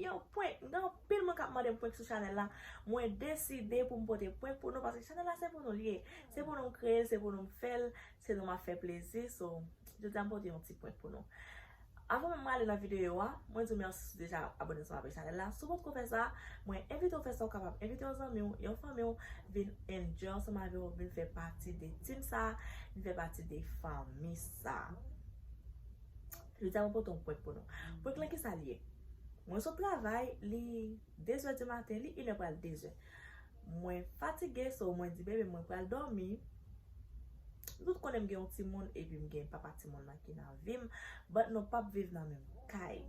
Yow prank, gen anpil moun kap mandem prank sou chanel la, mwen deside poum pote prank pou nou paske chanel la se pou nou li ye, se pou nou kreyel, se pou nou fel, se nou map fe plezi, so jodia m pote yon ti prank pou nou. Avan menm mwen ale nan video a, mwen diw merci si w deja abone sou chanel la, si w potko fè sa, mwen envitew fè sa, ou kapab envite yon zanmiw, yon fanmiw vin enjoy ansanm avew, vin fè pati de team sa, vin fè pati de fanmi sa. Jodi a mwen pote yon prank pou nou. Prank lan kisa li ye? Mwen sot travay, li 2 zè di maten, li 1 è pral 2 zè. Mwen fatige so mwen di bebe mwen pral dòmi. Nou tout konnen m gen yon timoun epi m gen papa timoun lan ki nan vi m but nou pap viv nan menm kay.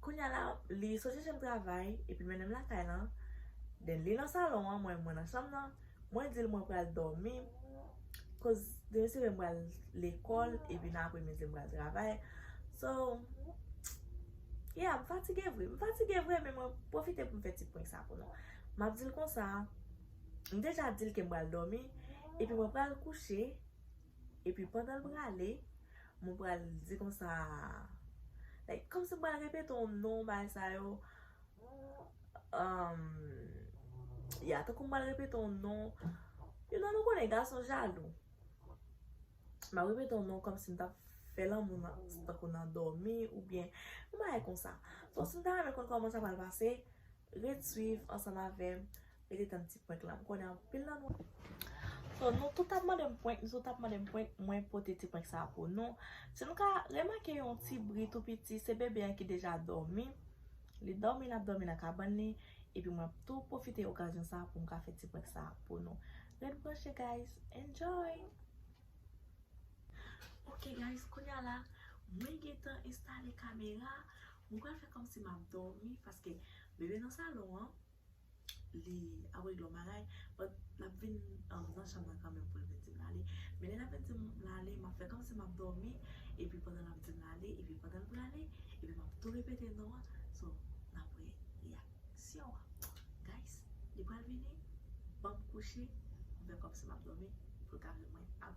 Kounya la li soti chem travay epi mennenm lakay lan then li nan salon an mwen mwen nan chanm nan mwen dil mwen pral domi koz demen se vre m pral lekol epi nan apremidi m pral travay so yeah m fatige vre m fatige vre men mwen pwofite poum fè ti prank sa pou nou map dil konsa m deja dil kem pral domi epi mwen pral kouche epi pandan l prale Mwen pral di konsa like kòmsi mwen pral repete yon non bagay sa yo umm yeah tankou mwen pral repete yon non you know nou konnen gason jalou map repete yon non kòmsi m tap fè lanmou nan tankou nan dòmi oubyen yon bagay konsa so si nou ta renmen konn kòman sa pral pase ret swiv ansanm avèm. Mete tann ti prank la. M konnen anpil nan nou. So nou tout ap mande m prank, nou tout ap mande m prank, mwen pote ti prank sa pou nou. Si nou ka remake yon ti bri tou piti, se bebe an ki deja dòmi. Li dòmi, l ap dòmi nan kabann li. Epi mwen ap tou pwofite okazyon sa pou m ka fè ti prank sa pou nou. Ret branche guys. Enjoy! Ok guys, kounye a la, mwen gen tan enstale kamera. Mwen pral fè kòmsi m ap dòmi paske bebe nan salon an. li ap regle yon bagay but l ap vin nan chanm nan kanmenm pou l vin di m l ale men lè l ap vin di m l ale m ap fè kòmsi m ap dòmi epi pandan l ap di m l ale epi pandan l prale epi m ap tou repete non an so n ap wè reyaksyon an guys li pral vini ban m kouche m fè kòmsi m ap dòmi pou l ka vin wè m ap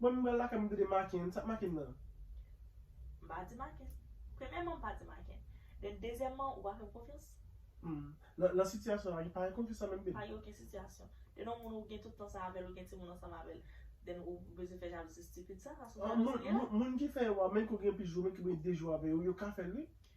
Mwen menm pral lakay mwen tande Maken, sak Maken nan? M pa di Maken. Premyèman m pa di Maken. Then dezyèman ou pa fè m konfyans. Hum. Nan nan sitiyasyon sa gen pa gen konfyans la menm babe. Pa gen okenn sitiyasyon. Then yon moun ou gen tout tan sa avèl ou gen timoun ansanm avèl then ou bezwen fè jalouzi stupid sa, sa sou jalouzi li ye la? Moun ki fè yo a menm ke ou gen plis jou menm ke ou gen 2 jou avè yo, yo ka fèl wi.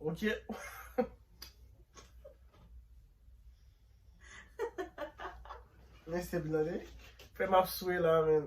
Ok Mwen se blode Fè map swe la men.